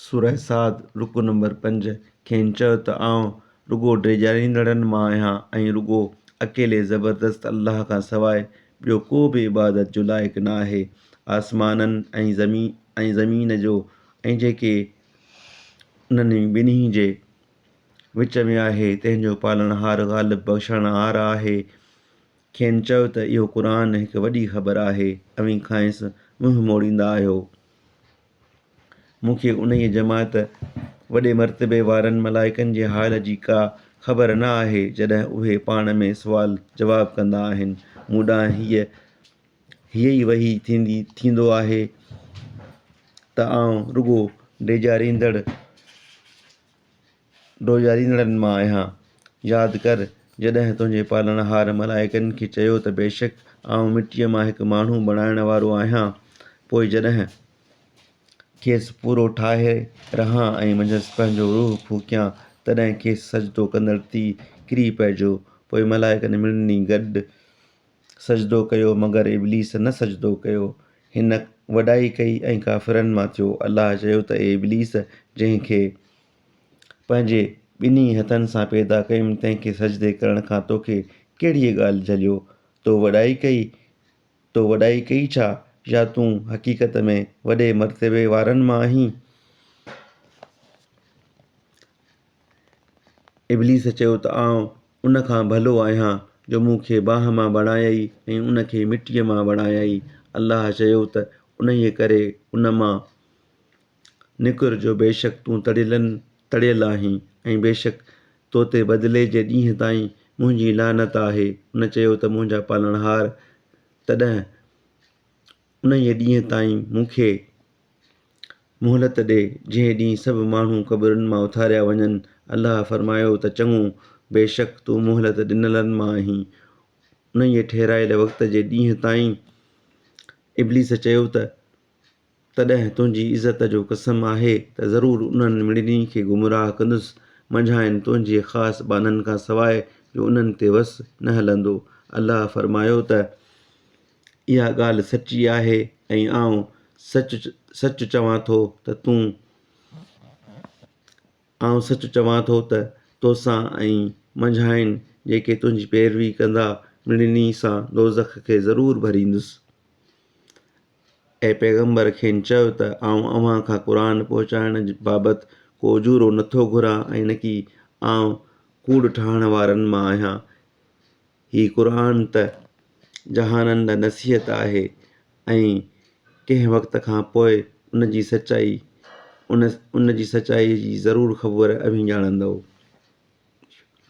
سوره صاد، رڪوع نمبر پنج، کين چؤ ته آئون رڳو ڊيڄاريندڙن مان آهيان ۽ رڳو اڪيلي زبردست الله کان سواء ٻيو ڪو به عبادت جو لائق نه آهي. آسمانن ۽ زمين جو ۽ جيڪي انهن ٻنهي جي وچ ۾ آهي، تنهن جو پالڻهار غالب بخشڻهار آهي. کين چئو ته اهو قرآن هڪ وڏي خبر آهي، اوهين کانئس منهن موڙيندا آهيو. مون کي انهيء جماعت، وڏي مرتبي وارن ملائڪن جي حال جي ڪا خبر نه آهي جڏهن اهي پاڻ ۾ سوال جواب ڪندا آهن. مون ڏانهن هيء هيء ئي وحي ٿيندي ٿيندو آهي ته آئون رڳو ڊيڄاريندڙ، ڊوڄاريندڙن مان آهيان. ياد ڪر، جڏهن تنهنجي پالڻهار ملائڪن کي چيو ته بيشڪ آئون مٽيء مان هڪ ماڻهو بڻائڻ وارو آهيان، پوء جڏهن کيس پورو ٺاهي رهان ۽ منجهس پنهنجو روح ڦوڪيان، تڏهن کيس سجدو ڪندڙ ٿي ڪري پئجو. پوء ملائڪن ٻنهي گڏ سجدو ڪيو، مگر ابليس نه سجدو ڪيو. هن وڏائي ڪئي ۽ ڪافرن مان ٿيو. الله چيو ته اي ابليس! جنهن کي. پنهنجي ٻنهي هٿن سان پيدا ڪيم تنهن کي سجدي ڪرڻ کان توکي ڪهڙيء ڳالهه جهليو؟ تو وڏائي ڪئي؟ تو وڏائي ڪئي ڇا؟ يا تون حقيقت ۾ وڏي مرتبي وارن مان آهين؟ ابليس چيو ته آئون ان کان ڀلو آهيان جو مون کي باهه مان بڻايئي ۽ ان کي مٽيء مان بڻايئي. الله چيو ته انهيء ڪري ان مان، نڪر جو بيشڪ تون تڙيلن تڙيل آهين ۽ بيشڪ تو تي بدلي جي ڏينهن تائين منهنجي لعنت آهي ان چيو ته منهنجا پالڻهار تڏهن انهيء ڏينهن تائين مون کي مهلت ڏي جنهن ڏينهن سڀ ماڻهو قبرن مان اٿاريا وڃن الله فرمايو ته چڱو بيشڪ تون مهلت ڏنلن مان آهين انهيء ٺهرايل وقت جي ڏينهن تائين ابليس چيو ته تڏهن تنهنجي عزت جو قسم آهي ته ضرور انهن مڙني کي گمراهه ڪندس منجهانئن تنهنجي خاص ٻانهن کان سواء جو انهن تي وس نه هلندو. الله فرمايو ته، اها ڳالهه سچي آهي ۽ آئون سچ سچ چوان ٿو ته تون آئون سچ چوان ٿو ته توسان ۽ منجهانئن جيڪي تنهنجي پيروي ڪندا مڙني سان دوزخ کي ضرور ڀريندس. اي پيغمبر! کين چئو ته آئون اوهان کان قرآن پهچائڻ بابت ڪو اجورو نه ٿو گهران ۽ نه ئي آئون ڪوڙ ٺاهڻ وارن مان آهيان. هي قرآن ته جهانن لاء نصيحت آهي ۽ ڪنهن وقت کان پوء ان جي سچائي ان ان جي سچائيء جي ضرور خبر اوهين ڄاڻندؤ.